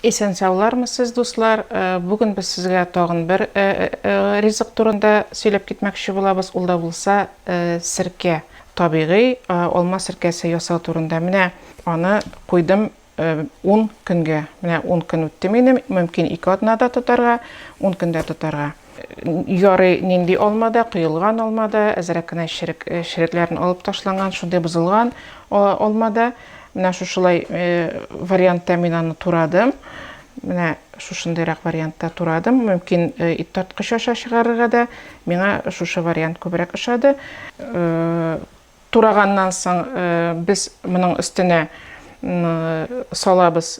Исән-саулармы сез, дуслар! Бүген без сезгә тагын бер ризык турында сөйләп китмәкче булабыз, ул да булса серкә, табигый алма серкәсе ясау турында. Менә аны куйдым ун көнгә. Менә ун көн үтте минем, мөмкин ике атнада тотарга, ун көндә тотарга. Ярый, нинди алма да, коелган алма да, әзрәк кенә черек, э, черекләрен алып ташланган, шундый бозылган алма да. Менә шушылай э, вариантта мин аны турадым. Менә шушындыйрак вариантта турадым. Мөмкин э, ит тарткыч аша чыгарырга да миңа шушы вариант күбрәк ошады. Тураганнан соң без моның өстенә салабыз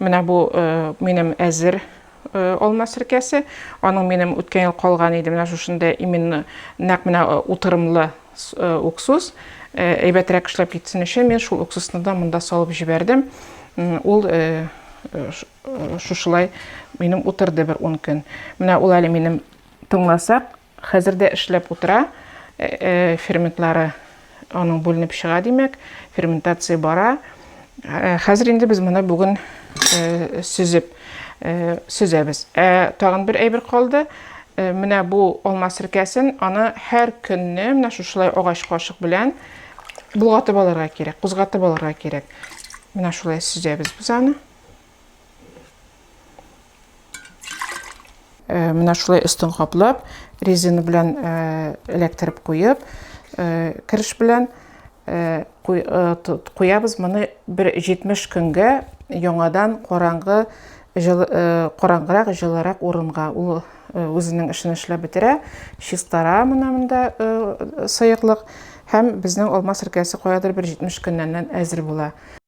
Менә бу минем әзер алма серкәсе. Аның минем үткән ел калган иде, менә шушында именно нәкъ менә утырымлы уксус. Әйбәтрәк эшләп китсен өчен мин шул уксусны да монда салып җибәрдем. Ул шушылай минем утырды бер 10 көн. Менә ул әле минем тыңласак, Хәзер дә эшләп утыра, ферментлары аның бүленеп чыга, димәк, ферментация бара. Хәзер инде без моны бүген сөзеп сөзәбез. Ә тагын бер әйбер калды. Менә бу алма серкәсен аны һәр көнне менә шушылай агач кашык белән болгатып алырга кирәк, кузгатып алырга кирәк. Менә шулай сөзәбез без аны. Э, менә шулай өстен каплап резина белән э, эләктереп куеп э, кереш белән куябыз моны бер 70 көнгә яңадан караңгы караңгырак җылырак урынга ул үзенең эшен эшләп бетерә чистара менә монда сыеклык һәм безнең алма серкәсе каядыр бер 70 көннән әзер була